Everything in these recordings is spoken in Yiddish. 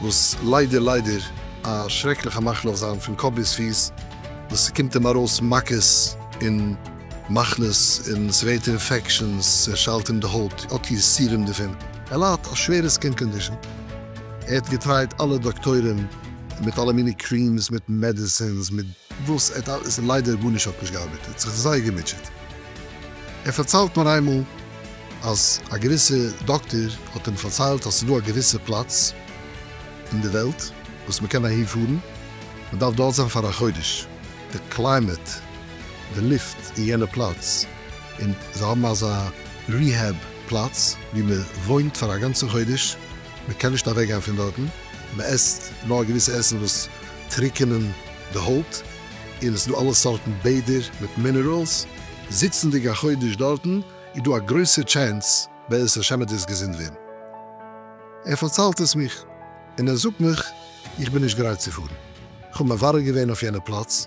וואס ליידער ליידער א שרעקליכע מחלה אויף זיין פון קאפ ביז פיס, וואס ס'קומט אים ארויס מכות און מחלות און ס'ווערט אינפעקשאנס, ס'שיילט אים די הויט, האט יסורים דערפון. ער ליידט א שווערע סקין קאנדישאן, ער האט געטרייט אלע דאקטוירים מיט אלע מיני קרימס מיט מעדעסינס מיט וואס ער האט אלעס און ליידער גארנישט האט נישט געארבעט, ער האט זיך זייער געמוטשעט, ער פארציילט מיר איינמאל, אז א געוויסע דאקטער האט אים פארציילט אז ס'איז דא א געוויסע פלאץ אין די וועלט וואס מען קען אהין פארן, מען דארף דארט זיין פאר א חודש, די קליימעט, די לופט אין יענע פלאץ, און זיי האבן אזא ריהעב פלאץ ווי מען וואוינט פאר א גאנצע חודש, מען קען נישט אוועקגיין פון דארטן, מען עסט נאר געוויסע עסן וואס טריקענען די הויט, און עס איז דא אלע סארטן בעדער מיט מינערעלס, זיצנדיג א חודש דארטן איז דא א גרויסע טשענס בעזרת השם וועט דאס געזונט ווערן. ער פארציילט עס מיך און ער זאגט מיך איך בין נישט גרייט צו פארן, כ'האב מברר געווען אויף יענע פלאץ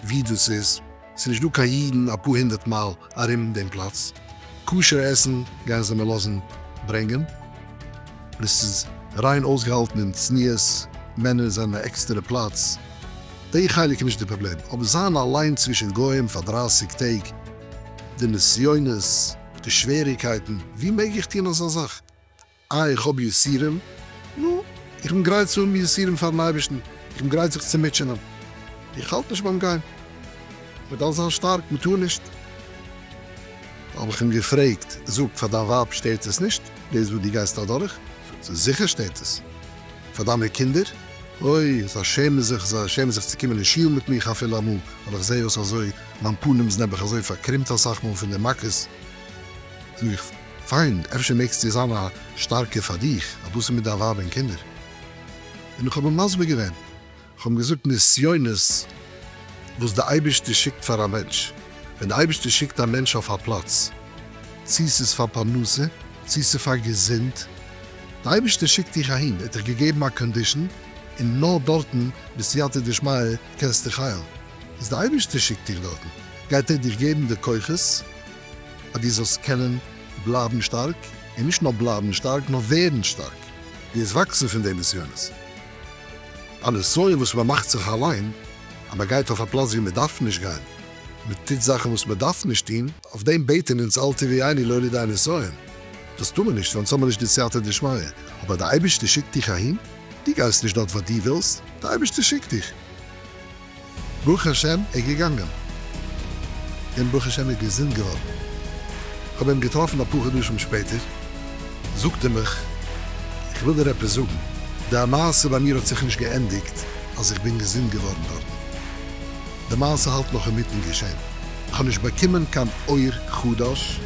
ווי דאס איז, ס'איז נישט דא קיין אידן אפאר הונדערט מייל ארום דעם פלאץ. כשר עסן גייען זיי מיר לאזן ברענגען, און עס איז ריין אויסגעהאלטן און צניעות, מענער זענען א עקסטערע פלאץ, די חלק איז נישט די פראבלעם, אבער זיין אליין צווישן גוים פאר דרייסיג טעג, די נסיונות, די שוועריקייטן, ווי מעג איך טון אזא זאך? אה, איך האב יסורים? נו, איך בין גרייט צו האבן יסורים פאר'ן אייבערשטן, איך בין גרייט זיך צו מוטשענען, איך האלט נישט ביים גיין, מ'דארף זיין שטארק, מ'טאר נישט. האב איך אים געפרעגט, זאג, פאר דיין ווייב שטערט עס נישט דאס וואס דו גייסט אדורך? זאגט זי, זיכער שטערט עס. פאר דיינע קינדער? אוי, זיי שעמען זיך, זיי שעמען זיך צו קומען אין שול מיט מיך אפילו אמאל, ווייל איך זע אויס אזוי, מיין פנים איז נעבעך אזוי פארקרומט אסאך מאל פון די מכות, זאג איך. פיין, אפשר מעגסטו זיין א שטארקער פאר דיך אז דאס איז מיט דיין ווייב און קינדער. און איך האב אים מסביר געווען, איך האב אים געזאגט נסיונות וואס די אייבערשטער שיקט פאר א מענטש, ווען די אייבערשטער שיקט א מענטש אויף א פלאץ, צו ס'איז פאר פרנסה, צו ס'איז פאר געזונט, די אייבערשטער שיקט דיך אהין, ער האט דיך געגעבן א קאנדישן און נאר דארטן ביסטו יתד דשמיא קענסט דיך היילן, איז די אייבערשטער שיקט דיך דארטן, גייט ער דיך געבן די כוחות, אז דו זאלסט קענען בלייבן שטארק, און נישט נאר בלייבן שטארק, נאר ווערן שטארק. דו וועסט וואקסן פון די נסיונות. א נסיון וואס מען מאכט זיך אליין, אז מען גייט אויף א פלאץ וואו מען דארף נישט גיין, מען טוט זאכן וואס מען דארף נישט טון, אויף דעם בעטן אונז אל תביא עיני לא לידי נסיון, דאס טאר מען נישט, אונז האבן נישט די סייעתא דשמיא, אבער דער אייבערשטער שיקט דיך אהין, דו גייסט נישט דארט ווייל דו ווילסט, דער אייבערשטער שיקט דיך. ברוך השם איז געגאנגען און ברוך השם איז געזונט געווארן. איך האב אים געטראפן אפאר חדשים שפעטער, זאגט ער מיך, איך וויל דיר עפעס זאגן, די מעשה ביי מיר האט זיך נישט געענדיגט אז איך בין געזונט געווארן דארטן, די מעשה האלט נאך אינמיטן געשען, איך האב נישט באקומען קיין אור חדש,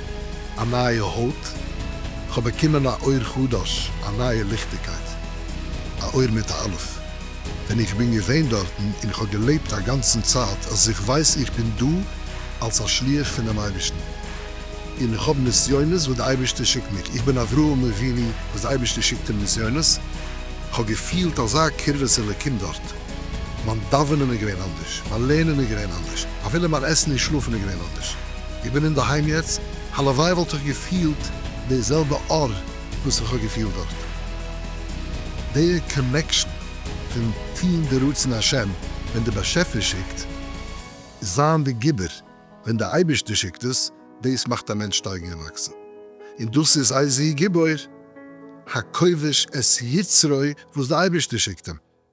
א נייע הויט, איך האב באקומען א אור חדש, א נייע ליכטיגקייט, א אור מיט א אלף. ווען איך בין געווען דארטן און איך האב געלעבט א גאנצן צייט אז איך ווייס איך בין דא אלס א שליח פונעם אייבערשטן און איך האב נסיונות וואס די אייבערשטער שיקט מיר, איך בין אברהם אבינו וואס די אייבערשטער שיקט אים נסיונות, כ'האב געפילט אזא קרבת אלקים דארט, מיין דאווענען איז געווען אנדערש, מיין לערנען איז געווען אנדערש, אפילו מיין עסן און שלאפן איז געווען אנדערש, איך בין אינדערהיים יעצט, הלוואי וואלט איך געפילט די זעלבע אור. וואס איך האב געפילט דארט. די קאנעקשאן פון טוהן די רצון השם ווען די באשעפער שיקט, זיין די גיבור ווען די אייבערשטער שיקט עס, דאס מאכט א מענטש שטייגן און וואקסן. און דאס איז איזהו גיבור, הכובש את יצרו וואס די אייבערשטער שיקט אים.